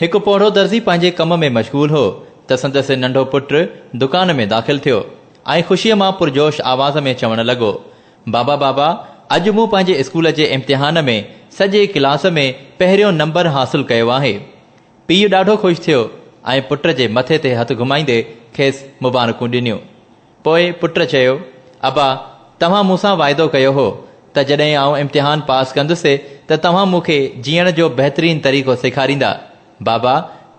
هڪ پوڙهو درزي پنهنجي ڪم ۾ مشغول هو ته سندس ننڍو پٽ دڪان ۾ داخل ٿيو ۽ خوشيء مان پرجوش آواز ۾ چوڻ لڳو، بابا بابا اڄ مون پنهنجي اسڪول جي امتحان ۾ سڄي ڪلاس ۾ پهريون نمبر حاصل ڪيو آهي. پيء ڏاڍو خوش ٿيو ۽ پٽ جي مٿي تي هٿ گهمائيندي کيس مبارڪون ڏنيون. پوء پٽ چيو، ابا! توهان مون سان واعدو ڪيو هو ته جڏهن آئون امتحان پاس ڪندس ته توهان مون کي جيئڻ جو بهترين طريقو سيکاريندا. بابا!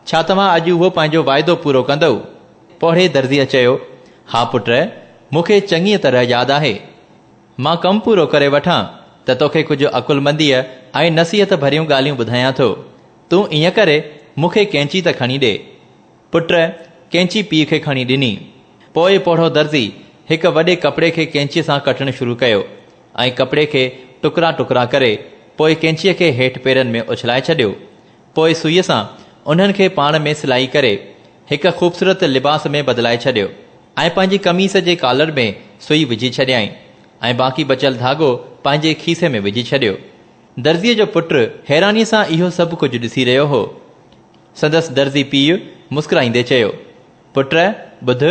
ڇا توهان اڄ اهو پنهنجو واعدو پورو ڪندؤ؟ پوڙهي درزيء چيو، ها پٽ! مون کي چڱيء طرح ياد آهي. مان ڪم پورو ڪري وٺان ته توکي ڪجهه عقلمنديء ۽ نصيحت ڀريون ڳالهيون ٻڌايان ٿو. تون ائين ڪري مون کي ڪئنچي ته کڻي ڏي. پٽ ڪينچي پيء کي کڻي ڏني. پوء پوڙهو درزي هڪ وڏي ڪپڙي کي ڪينچيء سان ڪٽڻ شروع ڪيو ۽ ڪپڙي کي ٽڪرا ٽڪرا ڪري پوء ڪينچيء کي هيٺ پيرن ۾ اڇلائي ڇڏيو. پوء سوئيء سان انهن کي پاڻ ۾ سلائي ڪري هڪ خوبصورت لباس ۾ بدلائي ڇڏيو ۽ پنهنجي قميص جي ڪالر ۾ سوئي وجهي ڇڏيائين ۽ باقي بچيل ڌاڳو پنهنجي کيسي ۾ وجهي ڇڏيو. درزيء جو پٽ حيرانيء سان اهو سڀ ڪجهه ڏسي رهيو هو. سندس درزي پيء مسڪرائيندي چيو، پٽ، ٻڌ،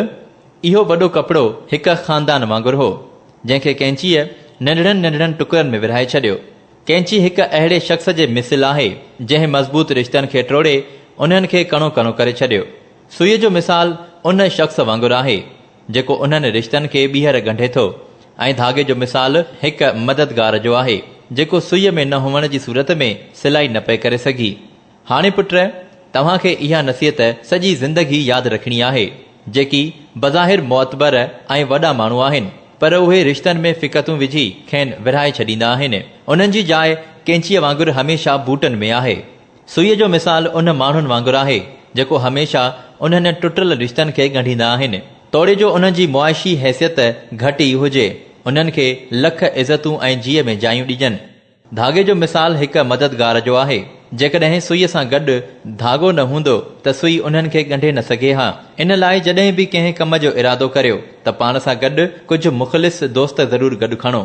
اهو وڏو ڪپڙو هڪ خاندان وانگر هو، جنهن کي ڪئنچيء ننڍڙن ننڍڙن ٽڪرن ۾ ورهائي ڇڏيو. ڪئنچي هڪ اهڙي شخص جي مثل آهي، جنهن مضبوط رشتن کي ٽوڙي، انهن کي ڪڻو ڪڻو ڪري ڇڏيو. سوئيء جو مثال ان شخص وانگر آهي، جيڪو انهن رشتن کي ٻيهر ڳنڍي ٿو ۽ ڌاڳي جو مثال هڪ مددگار جو آهي جيڪو سوئي ۾ نه هئڻ جي صورت ۾ سلائي نه پئي ڪري سگهي. هاڻي پٽ توهان کي اها نصيحت سڄي زندگي ياد رکڻي آهي جيڪي بظاهر معتبر ۽ وڏا ماڻهو آهن پر اهي رشتن ۾ فڪتون وجهي کين ورهائي ڇڏيندا آهن انهن جي جاء ڪينچيء وانگر هميشه بوٽن ۾ آهي. سوئيء جو مثال ان ماڻهن وانگر آهي، جيڪو هميشه انهن ٽٽل رشتن کي ڳنڍيندا آهن، توڙي جو انهن جي معاشي حيثيت گهٽ ئي هجي، انهن کي لک عزتون ۽ جيء ۾ جايون ڏجن. ڌاڳي جو مثال هڪ مددگار جو آهي، جيڪڏهن سوئيء سان گڏ ڌاڳو نه هوندو ته سوئي انهن کي ڳنڍي نه سگهي ها. ان لاء جڏهن به ڪنهن ڪم جو ارادو ڪريو ته پاڻ سان گڏ ڪجهه مخلص دوست ضرور گڏ کڻو.